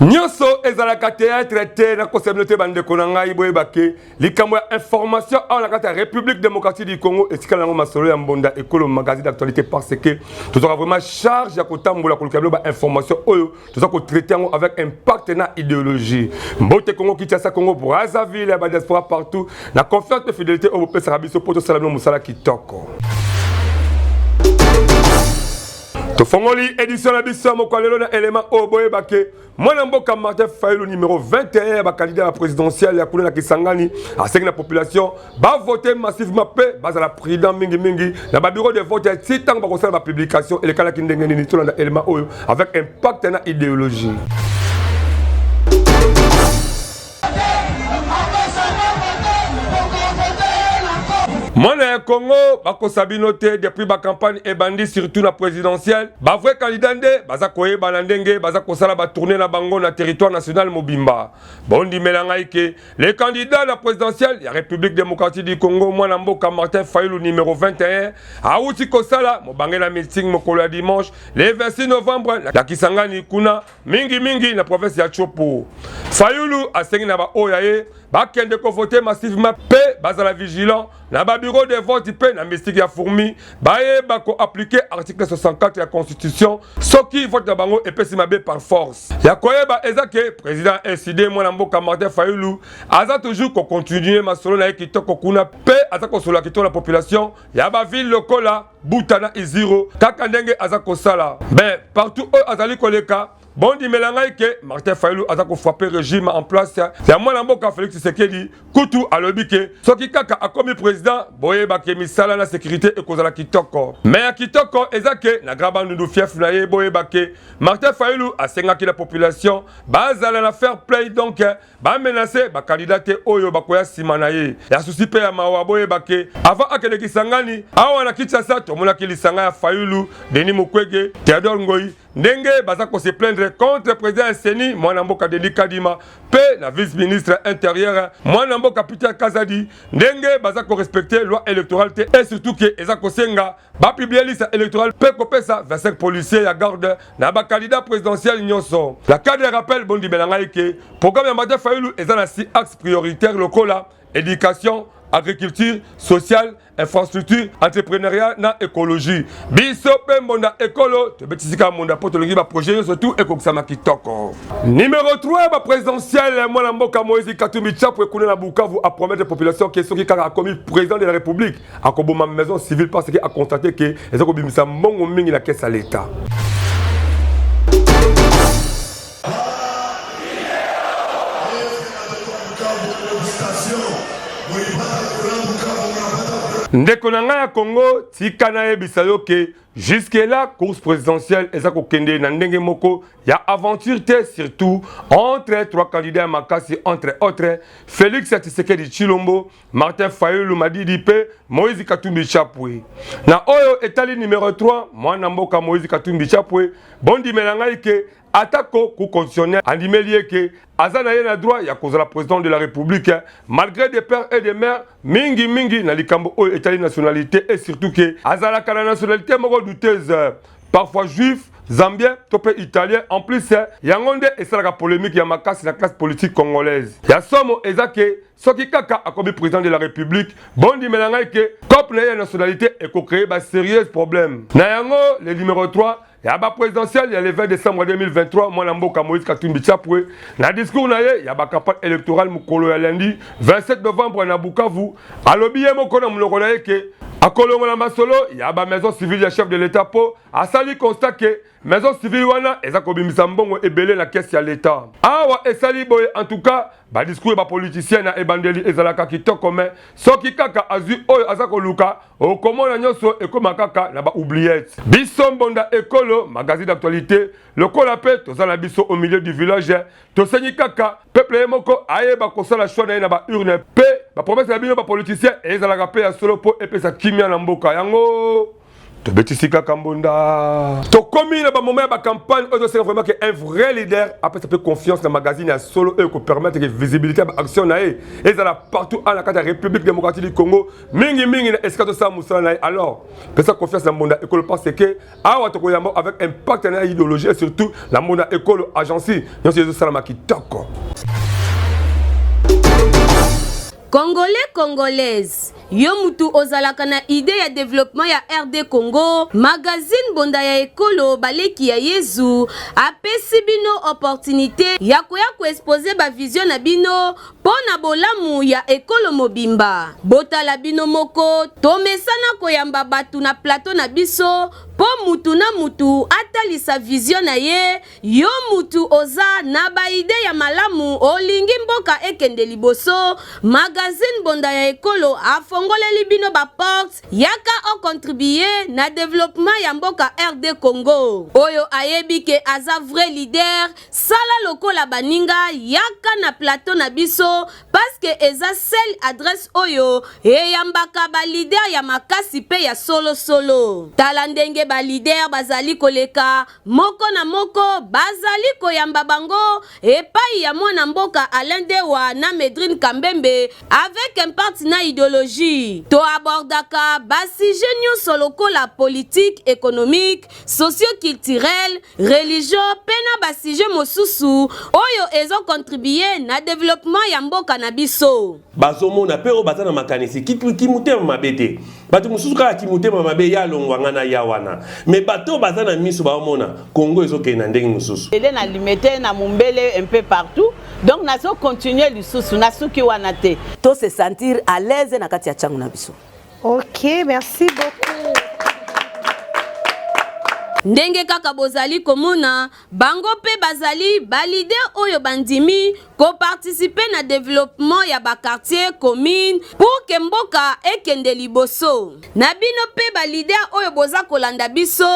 Nyoso ezalaka théâtre te na kosabino te bandeko na ngai boyeba ke likambo ya information awa na kati ya République démocratique du Congo etikala yango masolo ya mbonda ekolo magazine d'actualité parce que tozalaka vraiment charge ya kotambola koluka bilo ba information oyo toza kotraite yango avec impact na idéologie mbote Congo Kinshasa Congo Brazzaville ya ba diaspora partout na confiance mpe fidélité oyo bopesaka biso mpo tosala bino mosala kitoko tofongoli edisio na biso ya mokwa lelo na elema oyo boyeba ke mwana mboka martin fayulu numero 21 ya bakandida ya présidentielle ya kuna na kisangani asengi na population bavote massivement mpe bazala prudent mingimingi na babiro de vote ya ti ntango bakosala bapublication elekalaki ndenge nini tolanda elema oyo avec impact na idéologie mwana ya congo bakosa bino te depuis bacampagne ebandi surtout na présidentielle bavrai candidat nde baza koyebana ndenge baza kosala batourne na bango na territoire national mobimba bondimela ngai ke le candidat na présidentielle ya république démocratique du congo mwana mboka martin fayulu numero 21 awuti kosala mobange na meeting mokolo ya dimanche le 26 novembre na kisangani kuna mingi mingi na province ya Chopo. Fayulu asengi na baoyo ya ye bakende kovote massivement mpe bazala vigilant na babiro de vote mpe na mystique ya fourmi bayeba koaplike article 64 ya constitution soki vote na bango epesi mabe par force ya koyeba eza ke président sid mwana mboka martin fayulu aza toujours kocontinue masolo na ye kitoko kuna mpe aza kosolola kitoko na population ya bavile lokola buta na iziro kaka ndenge aza kosala mais partout oyo azali koleka bondimela ngai ke martin fayulu aza kofrape regime en place ya mwana mboka félix tshisekedi kutu alobi ke soki kaka akomi président boyeba ke misala na sécurité ekozala kitoko me ya kitoko eza ke na grand bandundu fief na ye boyeba ke martin fayulu asengaki na population bazala na fair play donc bamenase bakalida te oyo bakoya nsima na ye ya susi mpe ya mawa boyeba ke ava akende kisangani awa na kinshasa tomonaki lisanga ya fayulu denis mukwege theodore ngoi ndenge baza kose plaindre contre president ya seni mwana mboka denis kadima mpe na vice ministre interieur mwana mboka peter kazadi ndenge baza korespecte loi électorale te et surtout ke eza kosenga bapiblie liste électorale mpe kopesa 25 policier ya garde na ba candidat presidentiel nyonso. Na cadre ya rappel, bondimela ngai ke programme ya Martin Fayulu eza na si axe prioritaire lokola education, agriculture, sociale, infrastructure, entrepreneuriat na ecologie. Biso pe mbonda ekolo tobetisi kaka mbonda mpo tolingi ba projet nyonso tu ekokisama kitoko. Numero 3 ba presidentielle mwana mboka Moïse Katumbi Chapwe kuna na Bukavu a promettre population ke soki kaka akomi president de la République akoboma maison civile parce que a constate que eza kobimisa mbongo mingi na kesa leta ndeko na ngai ya congo tika nayebisa yo ke jusque là course présidentielle eza kokende na ndenge moko ya aventure te surtout entre trois candidats ya makasi entre autres félix ya tshisekedi tshilombo Martin Fayulu Madidi pe Moïse Katumbi Chapwe. Na oyo etali numero 3, mwana mboka Moïse Katumbi Chapwe, bondimela ngai ke atako ku constitutionnel andimeli ye ke aza na ye na droit ya kozala president de la république malgré des pères et des mères mingi mingi na likambo oyo etali nationalité et surtout ke azalaka na nationalité moko douteuse parfois juif zambien to mpe italien en plus yango nde esalaka polemique ya makasi na classe politique congolaise ya somo eza ke soki kaka akomi président de la république bondimela ngai ke cop na ye ya nationalité ekocreye ba sérieuse problème na yango le numéro 3 ya ba présidentielle ya le 20 décembre 2023 mwana mboka moïse katumbi chapwe na discours na ye ya bacampagne électorale mokolo ya lundi 27 novembre na bukavu alobi ye moko na monoko na ye ke akolongola masolo ya ba maison civile ya chef de l'état mpo asali constat ke Maison civile wana eza kobimisa mbongo ebele na kesi ya leta. Awa esali boye en tout cas ba discours ba politiciens na ebandeli ezalaka kitoko mais soki kaka azwi oyo aza koluka okomona nyonso ekoma kaka na ba oubliettes. Biso mbonda ekolo magazine d'actualité lokola pe toza na biso au milieu du village tosengi kaka peuple ye moko ayeba kosala choix na ye na ba urne pe ba promesse na bino ba politiciens ezalaka pe ya solo po epesa kimia na mboka yango tobetisi kaka mbonda tokomi na bamoma ya bacampagne oyo toseka vraiment ke un vrai leader apesa mpe confiance na magazine ya solo oyo ekopermettre ke visibilité ya baaction na ye ezala partout ana kati ya république démocratique du congo mingimingi na esika tosala mosala na ye alors pesa confiance na mbonda ekolo parce ke awa tokoyamba avec impact na idéologie et surtout na mbonda ekolo agence nyonso ezosalama kitoko Congolais congolaise yo mutu ozalaka na idee ya developpement ya RD Congo magazine bonda ya ekolo baleki ya yezu apesi bino opportunite ya koya ko expose ba vision na bino po na bolamu ya ekolo mobimba botala bino moko tomesana koyamba batu na plateau na biso po mutu na mutu atalisa vision na ye Yo mutu oza na ba idee ya malamu olingi mboka ekende liboso magazine bonda ya ekolo afongoleli bino ba porte yaka o contribuer na developpement ya mboka rdcongo oyo ayebi ke aza vrai leader sala lokola baninga yaka na plateau na biso paske eza sel adresse oyo eyambaka ba leader ya makasi pe ya solo solo tala ndenge ba leader bazali koleka moko na moko bazali koyamba bango epai ya mwana mboka Alain Dewa na Medrine Kambembe avec impact na ideologie. To abordaka ba sujets nyonso lokola politique, économique, socio-culturel, religion pe na ba sujets mosusu oyo ezo contribuer na developpement ya mboka na biso. bazomona mpe oyo baza na makanisi kimotema mabe te bato mosusu kaka kimotema mabe ya alongwa ngai na ya wana me bato oyo baza na miso baomona kongo ezokende na ndenge mosusu ele na limete na mombele un peu partout donc nazo continue lisusu nasuki wana te to se sentir à l'aise na kati ya ntango na biso ok merci beaucoup ndenge kaka bozali komona Bango mpe bazali ba leaders oyo bandimi ko participer na developpement ya ba quartiers, communes pour que mboka ekende liboso. Na bino mpe ba leaders oyo boza kolanda biso,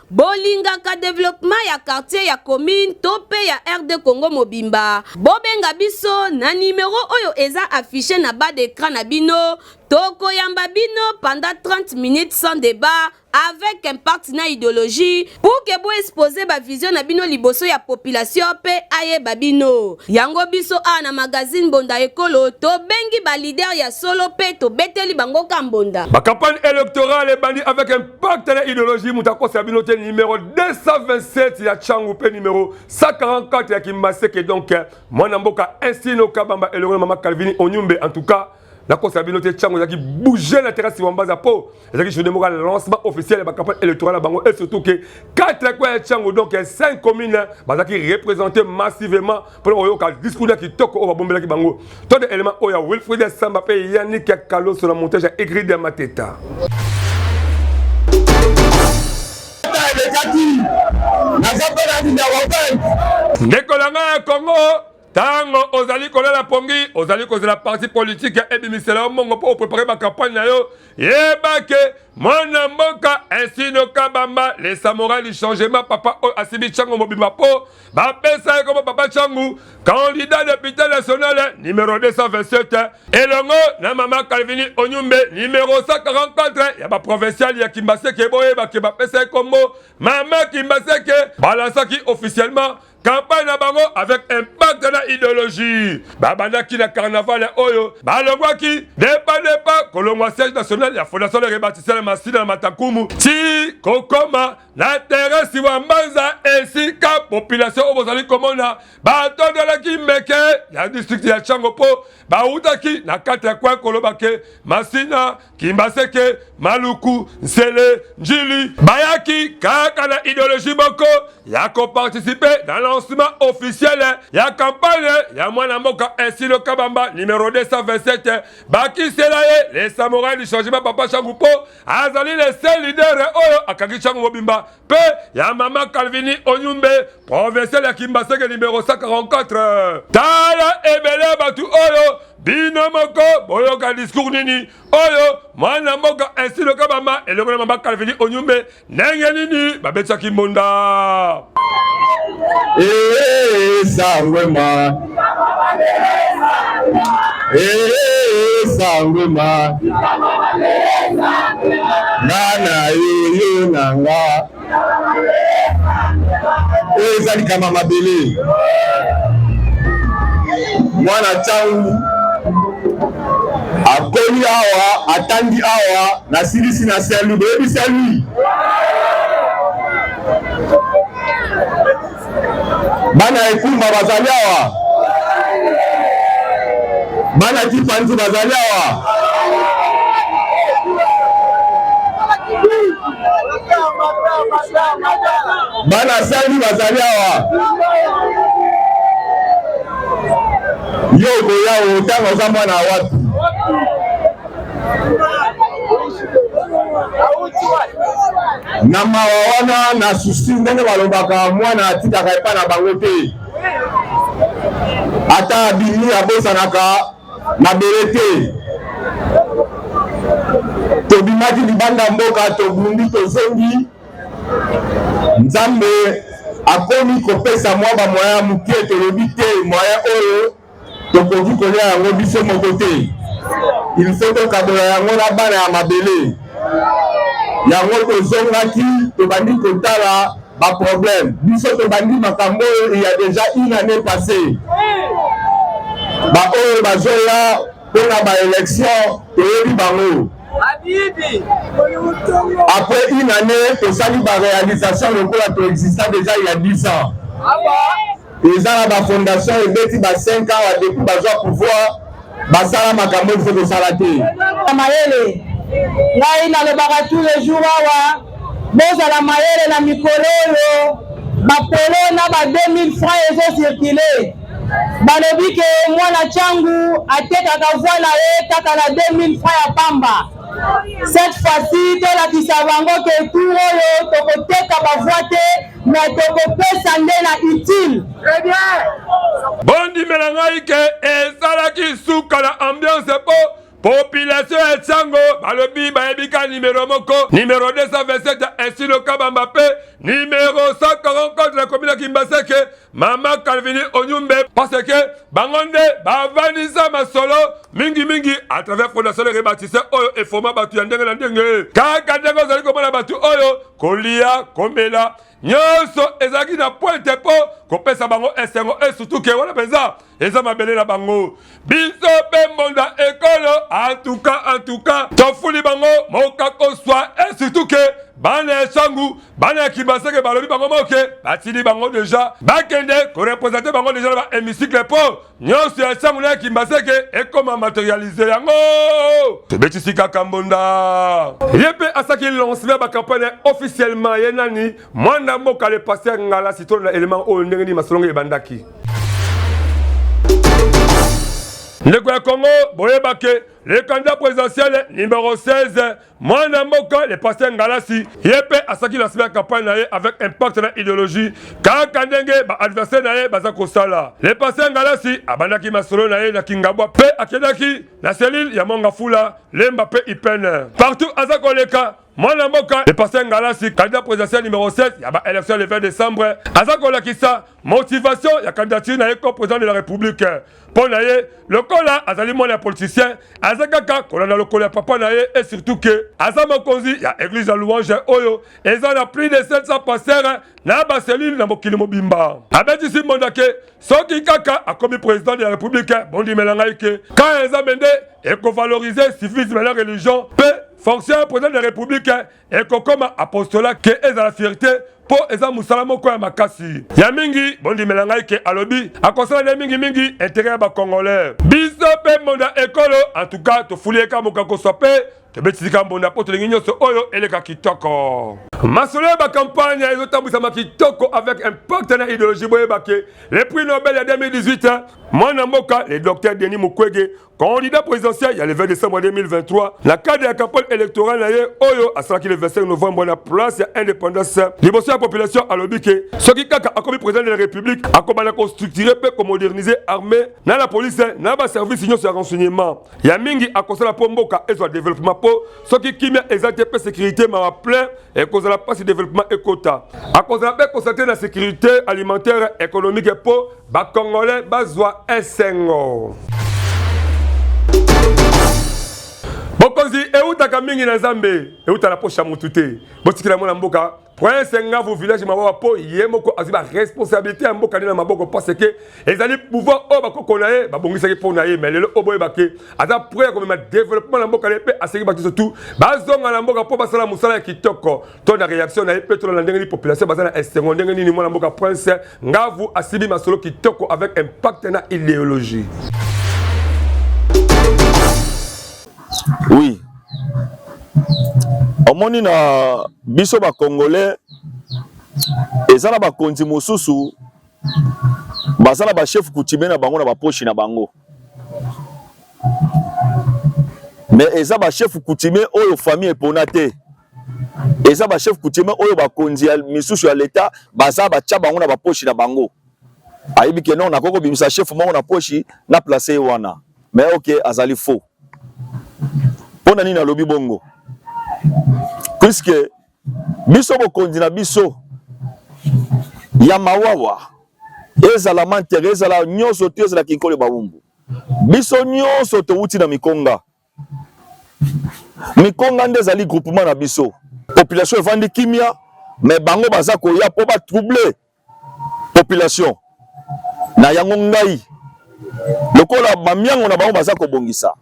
bolingaka developpement ya quartier, ya commune to mpe ya RDCongo mobimba, bobenga biso na numero oyo eza afficher na bas d'ecran na bino, tokoyamba bino pendant 30 minutes sans debat. avec impact na ideologie pour que bo exposer ba vision na bino liboso ya population pe ayeba bino yango biso a na magazine bonda ekolo to bengi ba leader ya solo pe to beteli bango ka mbonda ba campagne électorale ebandi avec impact na ideologie mutakosa ya bino te numéro 227 ya changu pe numéro 144 ya kimbaseke donc mwana mboka estino kabamba elongo na mama calvini onyumbe en tout cas nakosa bino te ntango ezalaki bouge na terasi wambaza mpo ezalaki journée moko ya lancement officiel ya bacampagne électorale ya bango et surtout ke kati ya kwa ya ntango donc ya 5 commune bazalaki représente massivement mpona koyoka discours ya kitoko oyo babombelaki bango to de élément oyo ya wilfrid ya samba mpe yanik ya kaloso na montage ya egride ya mateta ndeko na ngai ya congo Tango ozali kolela pongi, ozali kozela parti politique ya ebimisela yo mongo mpo oprepare ba campagne na yo, yeba ke mwana mboka Esino Kabamba le samorai du changement papa oyo asimbi Tshango mobimba mpo bapesa ye komo papa Tshangu candidat député national numero 227 elongo na mama Calvini Onyumbe numero 144 ya baprovincial ya Kimbaseke boyeba ke bapesa ye kombo mama Kimbaseke balansaki officiellement campagne na bango avec impact na ideologie babandaki na carnaval oyo balongwaki depa depa kolongwa siège national ya fondation de rebatisele masina na matakumu ti kokoma na teresi wa mbanza esika population oyo bozali komona batondelaki meke ya district ya chango mpo bautaki na kati ya kwe koloba ke masina Kimbaseke, Maluku, Nsele, Njili bayaki kaka na ideologie boko ya ko participer na lancement officiel ya campagne ya mwana mboka Esilo Kabamba numero 227 bakisela ye le samurai du changement papa Shangu po azali le seul leader oyo akangi Shangu mobimba mpe ya mama Calvini Onyumbe, provincial ya Kimbaseke numero 144. Tala ebele ya bato oyo bino moko boyoka discours nini oyo mwana mboka Ainsi Lokabamba elongo na mama Calvini Onyumbe ndenge nini babetisaki mbonda. Ee, eh, eh, eh, sangwema esangoma nana yoyo na nga oyo eza likama mabele mwana ntango akomi awa atangi awa nasilisi na saint louis boyebi saint louis Bana ya ekumba bazali awa, bana kipanzi bazali awa. Bana sangi bazali awa. Yo okoya otanga oza mwana wapi? na mawa wana na susi ndenge balobaka mwana atikaka epai na bango te ata abimi abosanaka mabele te tobimaki libanda mboka tobundi tozongi nzambe akomi kopesa mwa bamoya moke tolobi te moya oyo tokoki kolia yango biso moko te ilfo tokabola yango na bana ya mabele yango tozongaki tobandi kotala baproblème biso tobandi makambo oyo il y a déjà une année passée baoyo bazoya mpo na baélection toyebi bango après une année tosali baréalisation lokola toexista déjà il y a 10 ans ah eza na ba fondation ebeti ba 5 ans wa depuis bazwa pouvoir basala makambo il faut kosala te mayele ngai nalobaka tous les jours awa bozala mayele na mikolo oyo bapolo na ba 2000 francs ezocircule balobi ke mwana changu atekaka voi na ye kaka na 2000 francs ya pamba Cette fois-ci, tolakisa bango ke tour oyo tokoteka bavoi te me tokopesa nde na utile. Très bien. Bondimela ngai ke ezalaki suka na ambiance po population ya Tshango balobi bayebi ka numero moko numero 227 ya Esilo Kabamba pe numero 144 na komina Kimbaseke mama Calvini Onyumbe parce que bango nde bavandisa masolo mingi mingi à travers fondation le rebâtisseur oyo efoma bato ya ndenge na ndenge kaka ndenge ozali komona bato oyo kolia komela nyonso ezalaki na pointe mpo kopesa bango esengo esutuke wana mpenza eza mabele na bango biso mpe mbonda ekolo antuka antuka tofuli bango mokakoswa esituke bana ya sangu bana ya kibaseke balobi bango moke batili bango deja bakende korepresente bango deja na ba hémicycle mpo nyonso ya sangu na ya kimbaseke ekoma materialize yango tobetisi kaka mbonda ye mpe asaki lancement ya bacampagne officiellement ye nani Mwana boka le pasteur Ngala sitolo na element oyo ndenge nini masolongo ebandaki. ndeko ya congo boyeba ke le candidat présidentiel numéro 16 mwana mboka le pasteur ngalasi ye mpe asaki lancement ya campagne na ye avec impact na idéologie kaka ndenge baadversaire na ye baza kosala le pasteur ngalasi abandaki masolo na ye na kingabwa mpe akendaki na selile ya mongafula lemba mpe ipene partout aza koleka mwana mboka le pasteur ngalasi candidat présidentiel numéro 7 ya ba élection le 20 décembre aza kolakisa motivation ya candidature na ye comme président de la république mpo na ye lokola azali mwana ya politicien aza kaka kolanda lokolo ya papa na ye et surtout ke aza mokonzi ya église ya louange oyo eza na plus de 700 pasteur na bacellule na mokili mobimba abetisi mbonda ke soki kaka akomi president de la republique bondimela ngai ke kaya ya nzambe nde ekovalorize civisme na religion mpe fonction ya president de la republique ekokoma apostola ke ezala fierté mpo eza mosala moko ya makasi ya mingi bondimela ngai ke alobi akosala nde mingimingi intere ya bacongolais biso mpe mbonda ekolo antuka tofuli eka mokakoso mpe tobeti likambo na poto lingi nyonso oyo eleka kitoko masolo ya bakampagne ezotambwisama kitoko avec impact na idéologie boyeba ke le prix nobel ya 2018 mwana mboka le docteur denis mukwege candidat présidentiel ya le 20 décembre 2023 na cadre ya campagne électorale na ye oyo asalaki le 25 novembre na place ya indépendance liboso ya population alobi ke soki kaka akomi président de la république akobanda kostructure mpe komodernize armée na la police na baservice nyonso ya renseignement ya mingi akosala mpo mboka ezwa developema mpo soki kimia eza te mpe sekirite mawa plein ekozala mpasi developema ekota akozala mpe konstate na sekirite alimentaire ekonomike mpo bakongole bazwa esengo bokonzi eutaka mingi na nzambe euta na posha motu te botikela mwana mboka prince ngavu village mabawa mpo ye moko azwi baresponsabilité ya mboka nde na maboko parce ke ezali pouvoir oyo bakoko na ye babongisaki mpo na ye mai lelo oyo boyeba ke aza pre ya komema développement na mboka na ye mpe asengi bato nyonso tu bazonga na mboka mpo basala mosala ya kitoko to na réaction na ye mpe tolanda ndenge nini population baza na esengo ndenge nini mwana mboka prince ngavu asibi masolo kitoko avec impact na idéologie Oui. Omoni na biso ba Congolais eza na bakonzi mosusu baza na bachef coutumier na bango na baposhi na bango me eza bachef coutumier oyo famille epona te eza bachef coutumier oyo bakonzi ya misusu ya leta baza batya bango na baposhi na bango ayebi ke non nakoki kobimisa chef moko na poshi na place ye wana Mais ok, azali faux. Pona nini alobi bongo? Puisque biso bokonzi na biso ya mawawa ezala mantere ezala nyonso to ezala kinkole bawumbu biso nyonso towuti na mikonga mikonga nde ezali groupement na biso population evandi kimia me bango baza koya mpo batrouble population na yango ngai lokola bamiango na bango baza kobongisa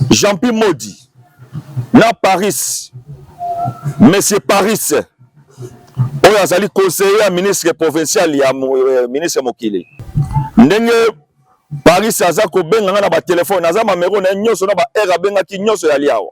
jeanpi modi na paris monsieur paris oyo azali conseiller ya ministre provincial ya euh, ministre ya mokili ndenge paris aza kobenga ngai na batelefone aza mamero na ye nyonso na baheure abengaki nyonso ya liawa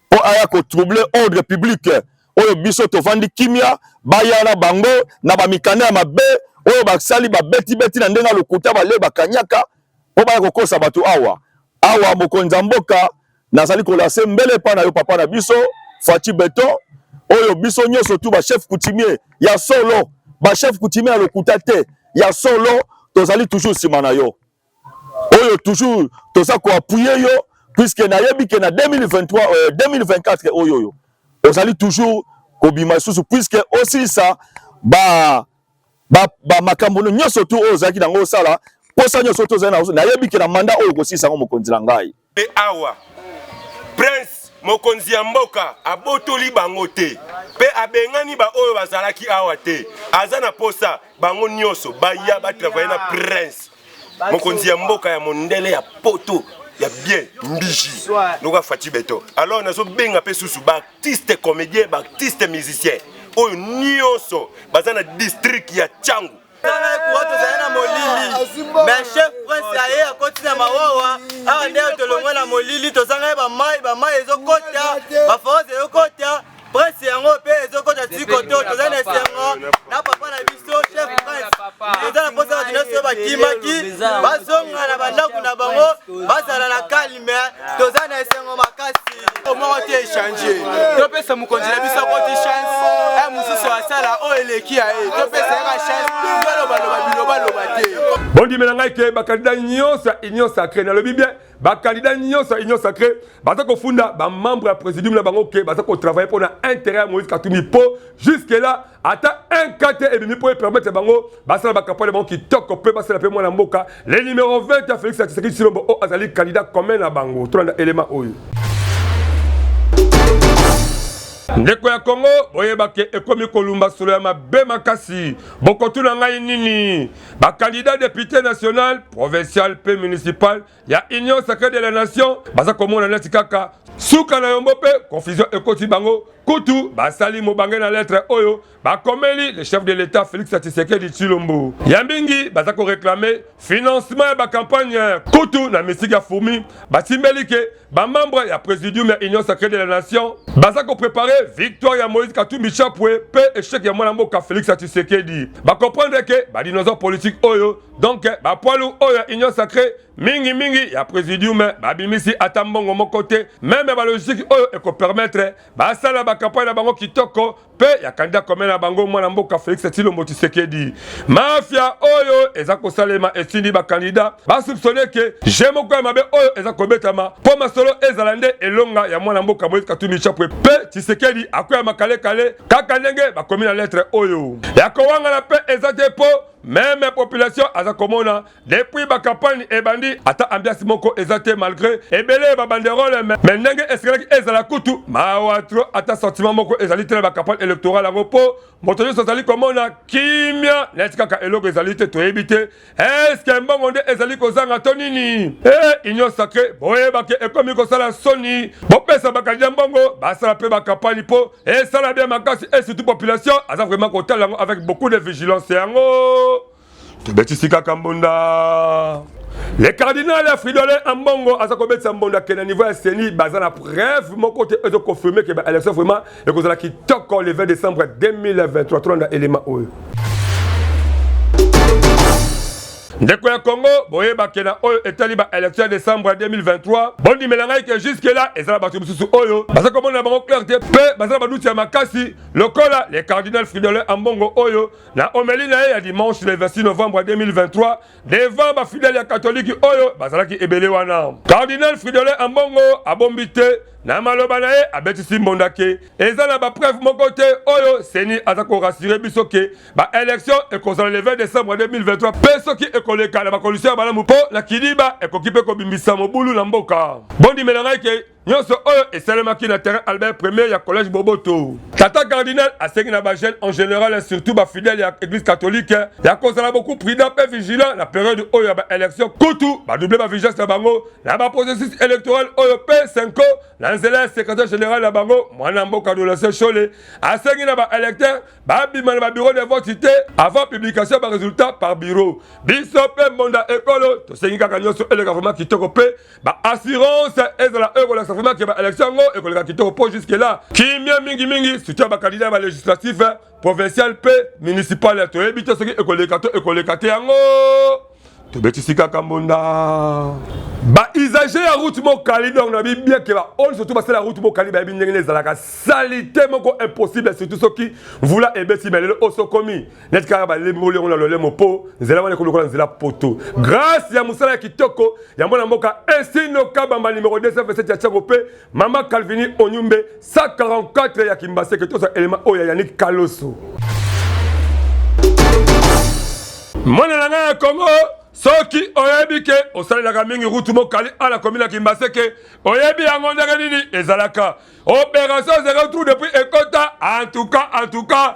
mpo aya ko troubler ordre public oyo biso tovandi kimia baya na bango na bamikanda ya mabe oyo basali babetibeti na ndenge ya lokuta bale bakanyaka mpo baya kokosa bato awa awa mokonzi ya mboka nazali kolase mbele epai na yo papa na biso faci beton oyo biso nyonso tu bachef coutumier ya solo bachef coutumier ya lokuta te ya solo tozali toujours nsima na yo oyo toujours toza ko appuyer yo puisque nayebi que na 2023 euh, 2024 oyo oyo ozali toujours kobima lisusu puisque osilisa ba ba, ba makambo nyonso tu oyo ozalaki nango osala posa nyonso tu ozali nayebi que na mandat oyo okosilisa yango mokonzi na ngai Mpe awa prince mokonzi ya mboka abotoli bango te mpe abengani baoyo bazalaki awa te, aza na posa bango nyonso baya batravaye na prince mokonzi ya mboka ya mondele ya poto ya bien mbiji lokola fati beto. Alors nazobenga mpe susu baartiste comédien baartiste musicien oyo nyonso baza na district ya Tshangu tala ekura tozali na molili me chef prince ya ye akoti na mawawa awa nde tolongwe na molili tozangai bamai bamai ezokota baforose ezokota prince yango mpe ezokota tikoto toza na esengo na papa na biso chef prince toza na mposa bato nyonso oyo bakimaki bazonga na bandako na bango bazala na kali mais toza na esengo makasi omoko te echange topesa mokonzi na biso koti chance e eh, mosusu asala oyo eleki ya ye topesa yaka chance balobaloba bilobaloba te bondimela ngai ke bakandida nyonso ya union sacré nalobi bien bakandida nyonso ya union sacré baza kofunda bamembre ya présidium na bango ke baza kotravaille mpo na intérêt ya moïse katumbi mpo jusque là ata un cas te ebimi mpo epermettre bango basala bakampane bango kitoko mpe basala mpe mwana mboka le numero 20 ya félix atisaki silombo oyo azali candidat commun na bango tolanda elema oyo ndeko ya kongo boyebake ekomi kolumba solo ya mabe makasi bokotuna ngai nini bakandida depute national provincial mpe municipal ya union sacrée de la nation baza komona neti kaka suka na yombo mpe confusion ekoti bango kutu basali mobange na lettre oyo bakomeli le chef de l'état félix tshisekedi tshilombo ya mingi baza koreklame financement ya bacampagne kutu na misiki ya fourmi basimbeli ke bamembre ya présidium ya union sacrée de la nation baza koprepare victoire ya moïse katumbi chapwe mpe echec ya mwana mboka félix tshisekedi bakomprendre ke badinosaure politique oyo donc bapwalu oyo ya union sacré mingi mingi ya presidium babimisi ata mbongo moko te meme balogistiki oyo ekopermetre basala bakampagne na bango kitoko mpe ya kandida kome na bango mwana mboka felix tilombo tshisekedi mafia oyo eza kosalema esindi bakandida basupsone ke je moko ya mabe oyo eza kobetama mpo masolo ezala nde elonga ya mwana mboka moise katumbi chapwe mpe tshisekedi akweyama kalekale kaka ndenge bakomi na letre oyo ya kowangana mpe eza te mpo meme population aza komona depuis ba campagne ebandi ata ambiance moko eza te malgré ebele ba banderole mais ndenge esekelaki ezala kutu mawa tro ata sentiment moko ezali te na ba campagne électorale yango mpo moto nyonso azali komona kimia neti kaka eloko ezali te toyebi te eske mbongo nde ezali kozanga to nini e union sacré boyebake ekomi kosala soni bopesa bakandida mbongo basala mpe ba campagne mpo esala bien makasi et surtout population aza vraiment kotala yango avec beaucoup de vigilance yango tobetisi kaka mbunda le cardinal ya fridole ambongo aza kobetisa mbondo akende niveau ya seni baza na preuve moko te ezo confirme ke baélection vraiment ekozala kitoko le 20 décembre 2023 tolanda élément oyo Ndeko ya Congo boyeba ke na oyo etali ba election ya décembre ya 2023 bondimela ngai ke jusque là ezala bato mosusu oyo baza komona bango clair te mpe baza na baduti ya makasi lokola le cardinal Fridolin Ambongo oyo na omeli na ye ya dimanche le 26 novembre 2023 devant bafidele ya katoliki oyo bazalaki ebele wana cardinal Fridolin Ambongo abombi te na maloba na ye abetisi mbonda ke eza na bapreuve moko te oyo seni aza korasire biso ke ba election ekozala le 20 decembre 2023 mpe soki ekoleka na bakondisio ya malamu mpo na kidiba ekoki mpe kobimbisa mobulu na mboka bondimela ngai ke nyonso oyo esalemaki na terrain albert premier ya collège boboto tata cardinal asengi na bajeune en général surtout bafidèle ya église catholique ya kozala beaucoup prudent mpe vigilant na periode oyo ya baélection kutu badouble bavigence na bango na baprocessus électoral oyo mpe senko na nzela ya secrétaire général na bango mwana mboka dolatien shole asengi na baélecteur babima na babiro de vote te avant publication ya baresultat par bureau biso mpe mbonda ekolo tosengi kaka nyonso eleka vraimen kitoko mpe baassurance ezala oyo ekolakisa vraimen ke baélection yango ekoleka kitoko mpo juske la kimia mingimingi soutien ya bakandida ya balegislatif provincial mpe municipal toyebi te soki ekoleka to ekoleka te yango tobetisi kaka mbonda bausage ya route mokali donc na bibieke baoyo surtout basala route mokali bayebi ndenge nde ezalaka salite moko impossible surtout soki mvula ebeti me lelo oso komi neti kaka balemboli yango na lolemo mpo nzela wana ekolokola nzela poto grâce ya mosala ya kitoko ya mwana mboka esino kabamba numero 227 ya tiango mpe Mama Calvini Onyumbe 144 ya Kimbaseke toza elema oyo ya Yannick Kaloso. Mwana na ngai ya Kongo soki oyebi ke osalelaka mingi rutu mokali ala komi na kimbaseke oyebi yango ndenge nini ezalaka operation zero trou depuis ekota antuka antuka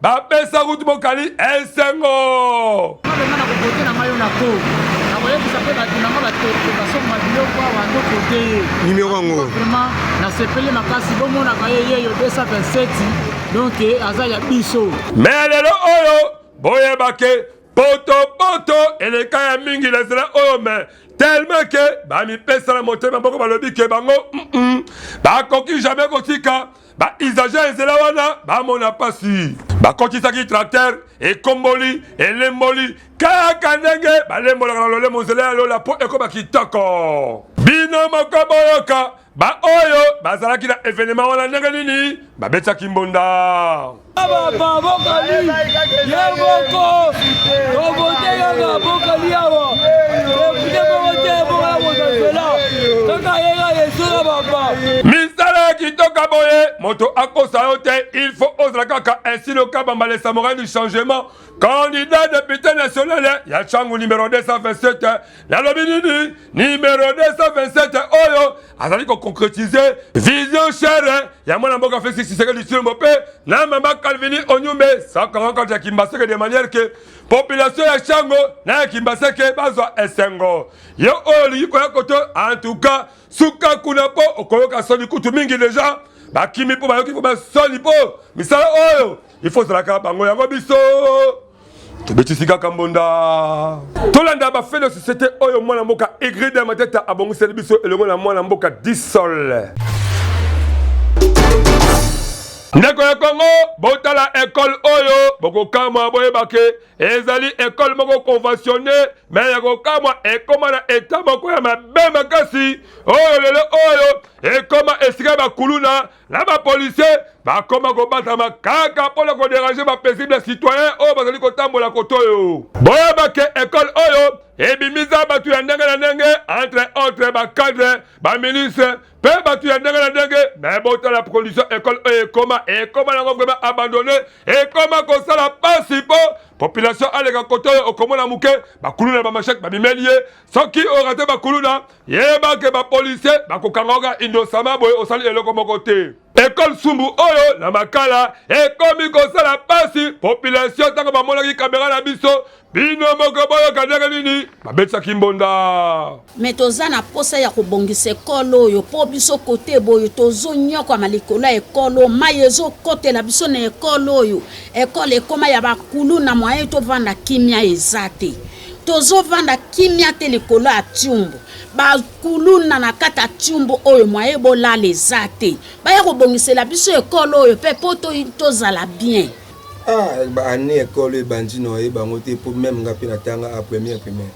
bapesa kutu bokali esengo koyebisa mpe bato nanga basomba biloko awa tokote ye nimero yango vraiment nasepeli makasi bomonaka ye yeyo 227 donc aza ya biso me lelo oyo boyebake potopoto eleka ya mingi na nzela oyo me tellement ke bamipesa na motema moko balobi ke bango mm -mm, bakoki jamais kotika ba usagers ezela wana bamona pasi bakokisaki tracteur ekomboli elemboli kaka ndenge balembolaka na lolemo nzela ya lola mpo ekoba kitoko bino moko boyoka baoyo bazalaki na evenema wana ndenge nini babetaki mbonda misala kitoka boye moto akosa yo te il faut ozala kaka ainsi le kabamba le samorai du changement candidat député national ya changu numero 227 nalobi nini numero 227 oyo azali koconcretize vision chere ya mwana mboka felix tshisekedi tshilombo mpe na mama calvini onyumbe sakangankati ya kimbaseke de manière ke population ya shango na ya kimbaseke bazwa esengo ye oyo olingi koya koto antuka suka kuna mpo okoyoka soni kutu mingi deja bakimi mpo bayoki mpo basoni mpo misala oyo ifo ozalaka bango yango biso tobetisi kaka mbonda tolanda bafele société oyo mwana mboka egrede ya mateta abongiseli biso elongo na mwana mboka disol ndeko ya kongo botala ekole oyo bokokamwa boyebake ezali ekole moko conventionne me ya kokamwa ekoma na eta moko ya mabe makasi oyo lelo oyo ekoma esika ya bakuluna na bapolisie bakoma kobatama kaka mpo na koderange bapaisible citoyen oyo bazali kotambola koto oyo. Boyeba ke ekole oyo ebimisa bato ya ndenge na ndenge entre autres bacadre baministre mpe bato ya ndenge na ndenge me botala condition ekole oyo ekoma ekoma nango vraimen abandonne ekoma kosala mpasi mpo population aleka koto oyo okomona moke bakuluna bamashek babimeli ye soki orate bakuluna yeba ke bapolisier bakokanga oka indosama boye osali eloko moko te ekole sumbu oyo na makala ekomi kosala mpasi population ntango bamonaki kamera na biso bino moko boyoka ndenge nini babetisaki mbonda me toza na mposa ya kobongisa ekolo oyo mpo biso kote boyo tozonyokwama likolo ya ekolo mai ezokotela biso na ekolo oyo ekolo ekoma ya bakulu na mwaye tovanda kimia eza te tozovanda kimia te likolo ya tiumbu bakuluna na kati ya tiumbu oyo mwaye bolala eza te baya kobongisela biso ekolo oyo mpe mpo tozala bien ah, baani ekolo ebandi noye bango te mpo meme nga mpe natanga a première primaire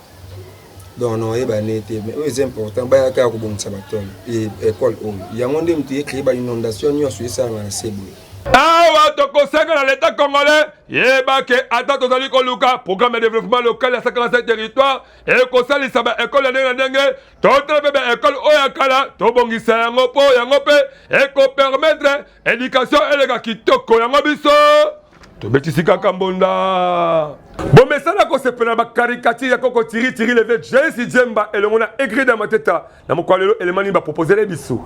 donc noye bane te mais oyo eza important bayaka ya kobongisa batole ekole oyo yango nde moto ye créé ba inondation nyonso esalanga na se boye awa tokosenga na leta congolais yeba ke ata tozali koluka programme ya développement local ya 57 territoire ekosalisa baekole ya ndenge na ndenge totala mpe baekole oyo ya kala tobongisa yango mpo yango mpe ekopermettre éducation eleka kitoko yango biso tobetisi kaka mbonda bomesana kosepela na bakarikatire ya koko tiritiri leve jesi jemba elongo na egrida mateta Na mokolo lelo elema nini ba proposele biso?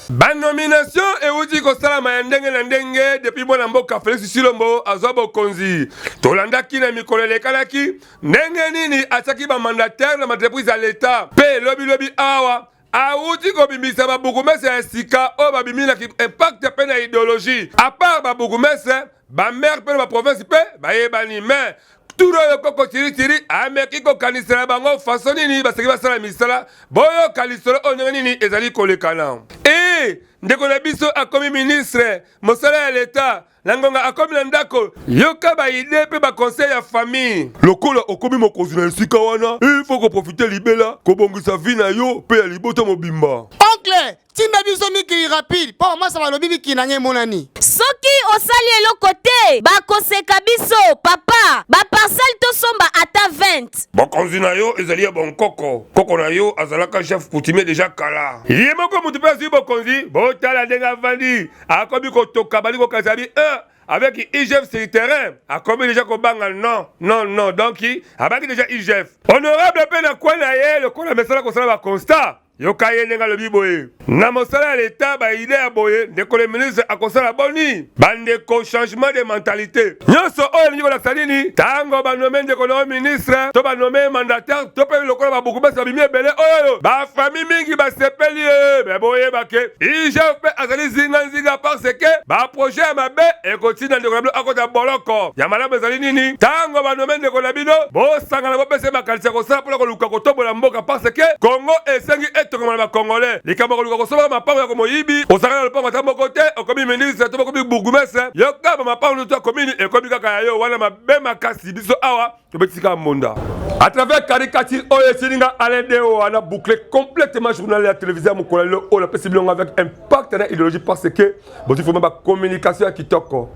banomination euti kosalama ya ndenge na ndenge depuis mwana mboka felix silombo azwa bokonzi tolandaki na mikolo elekalaki ndenge nini atiaki bamandatere na maentreprise ya leta mpe lobilobi awa awuti kobimisa babukumese ya sika oyo babimi na impact mpe na ideologie apart babukumese bamere mpe na baprovinsi mpe bayebani mais turo oyo koko tiritiri ameki kokanisela bango faso nini baseki basala misala boyoka lisolo oyo ndenge nini ezali kolekana e ndeko na biso akomi ministre mosala ya leta na ngonga akomi na ndako yoka baide mpe bakonseil ya famille lokola okomi mokonzi na esika wana ilfo koprofite libela kobongisa vi na yo mpe ya libota mobimba oncle tinda biso mikili rapide mpo bamasa balobi mikili na ngai emonani soki osali eloko te bakoseka biso papa baparcele tosomba ata 20 bakonzi na yo ezali ya bonkoko koko na yo azalaka chef coutumier deja kala ye moko moto mpe azwi bokonzi botala ndenge avandi akomi kotoka bali kokanisa bi e avec igf sur terrain akomi deja kobanga non non non donc abaki deja igf honorable mpe na kwe na ye lokola mesala kosala baconstat yoka ye ndenge alobi boye na mosala ya leta baide ya boye ndeko le ministre akosala boni bandeko changement de mentalité nyonso oyo elingi kolakisa nini ntango banome ndeko na yo ministre to banome mandateur to mpe lokola babokumesi babimi ebele oyo bafami mingi basepeli ye me boyebake igf mpe azali zinganzinga parce ke baprojet ya mabe ekotinda ndeko na bino akota boloko ya malamu ezali nini ntango banome ndeko na bino bosangana bopesa ye makanisi ya kosala mpona koluka kotombola mboka parce ke kongo esengi etongama na bakongole likambo ya koluka kosombaka mapango ya komoyibi osangana na lopango ata moko te okomi ministre to bokomi bourgmestre yoka mama paulo to akomini ekomi kaka ya yo wana mabe makasi biso awa tobetisi kaka mbonda à travers caricature oyo esili nga alain deo wana boucle complètement journal ya télévisé ya mokolo lelo oyo napesi bilongo avec impact na idéologie parce que bozwi vraimen bacommunication ya kitoko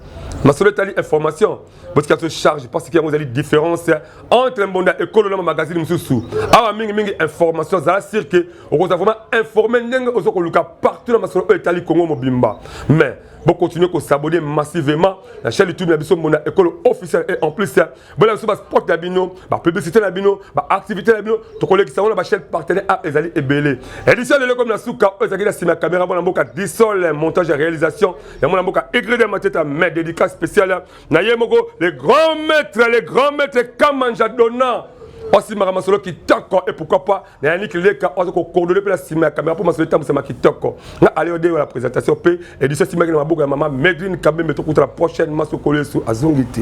masolo etali information botika biso charge parce que yango ezali différence entre mbonda ekolo na mamagazine mosusu awa mingimingi information azala sur ke okozala vraiment informe ndenge oza koluka partout na masolo oyo etali kongo mobimba mais bocontinue kosabone massivement na chaîne youtube na biso mbonda ekolo officiel et en plus bola biso basport na bino bapublicité na bino baactivité na bino tokolekisa yango na bachaîne partenaire a ezali ebele édition lelo komi na suka oyo ezalaki na nsima ya caméra mwana mboka disol montage ya réalisation ya mwana mboka egrede mateta mais dédicace spéciale na ye moko le grand maître le grand maître kamanja donna osimaka masolo kitoko et pourquoi pas na yannick leka oza kokordone mpe na nsima ya kamera mpo masolo etambwisama kitoko na aleode ya la présentation mpe édition esimaki na maboko ya mama medrine kabembe tokutana prochainement sokolo yesu azongi te